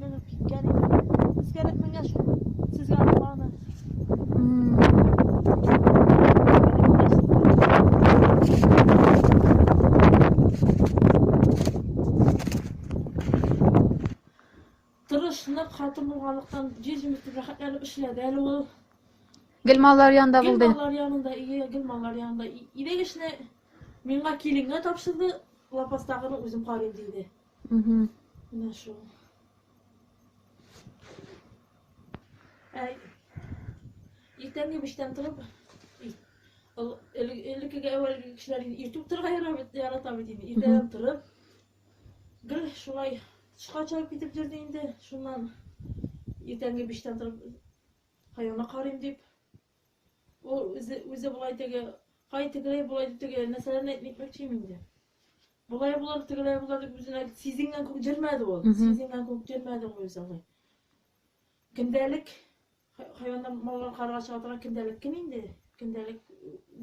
Менеп киткән иде. Сискәнеп менгән шул. Сезгә аны. Тырышны хатын булганлыктан җиз җимес дип рәхәтләнеп эшләде әле ул. Гел маллар янында булды. Гел маллар янында, ие, гел маллар янында. Идек эшне миңа киленгә тапшырды, лапастагыны үзем карыйм диде. Угу. Менә шул. Ә иртәнге биштән торып, элеккеге әүвәлге кешеләр инде иртүк торырга ярата бит инде. Иртәдән торып, гел шулай тышка чыгып китеп йөрде инде. Шуннан иртәнге биштән торып хайванга карыйм дип. Ул үзе үзе болай теге, кай тегеләй болай дип теге нәрсәләрне әйтмәкче инде. Болай булыр, тегеләй булыр дип үзенә сизенгән күк җөрмәде ул. Сизенгән күк җөрмәде ул үзе алай. Көндәлек хайваннар маллар карга чыга көндәлек кем инде? Көндәлек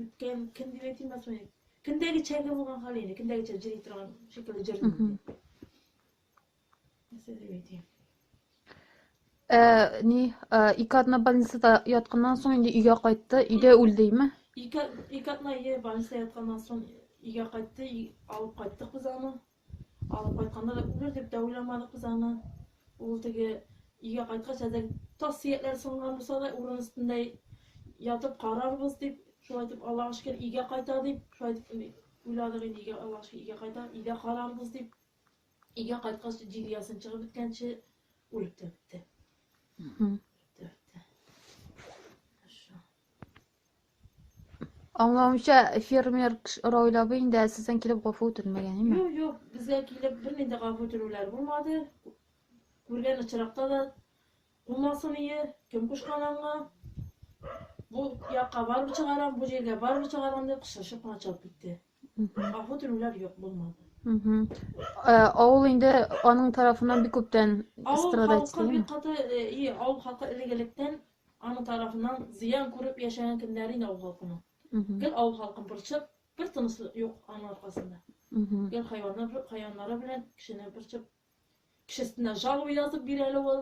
үткән кем дип әйтмәс мени? Көндәгечәге булган хәл инде, көндәгечә җыри торган шикелле җырый. Ә, ни, ә, ике атна больницада ятканнан соң инде өйгә кайтты, өйдә үлдеме? Ике, ике атна е больница ятканнан соң өйгә кайтты, алып кайттык без аны. Алып кайтканда да үлер дип тә уйламадык без аны. Ул теге өйгә кайткач, әдән тас сөякләр сынган булса да, урын өстендә ятып карарбыз дип, шулай итеп Аллага шөкер өйгә кайта дип, шулай итеп уйладык инде өйгә Аллага шөкер өйгә кайта, өйдә карарбыз дип. Өйгә кайткач, җиде ясын чыгып беткәнче үлеп тә бетте. Мгм. Аңлавымча, фермер Раулабы инде әсәсен килеп гафу үтенмәгән, име? Юк, юк, безгә килеп бернинди дә гафу үтенүләр булмады. Күргән очракта да булмасын ие, кем кушкан аңа. Бу якка барып чыгарам, бу җиргә барып чыгарам дип кычкырышып кына чыгып китте. Аху төнләр юк булмады. Э, авыл инде аның тарафына бик күптән страдать итә. Бик каты э, и авыл халкы элегелектән аның тарафыннан зыян күреп яшәгән көннәре инде авыл халкының. Гел авыл халкын борчып, бер тынысы юк аның аркасында. Гел хайваннар хайваннары белән кешене борчып, кешесенә жалоба язып бирә әле ул.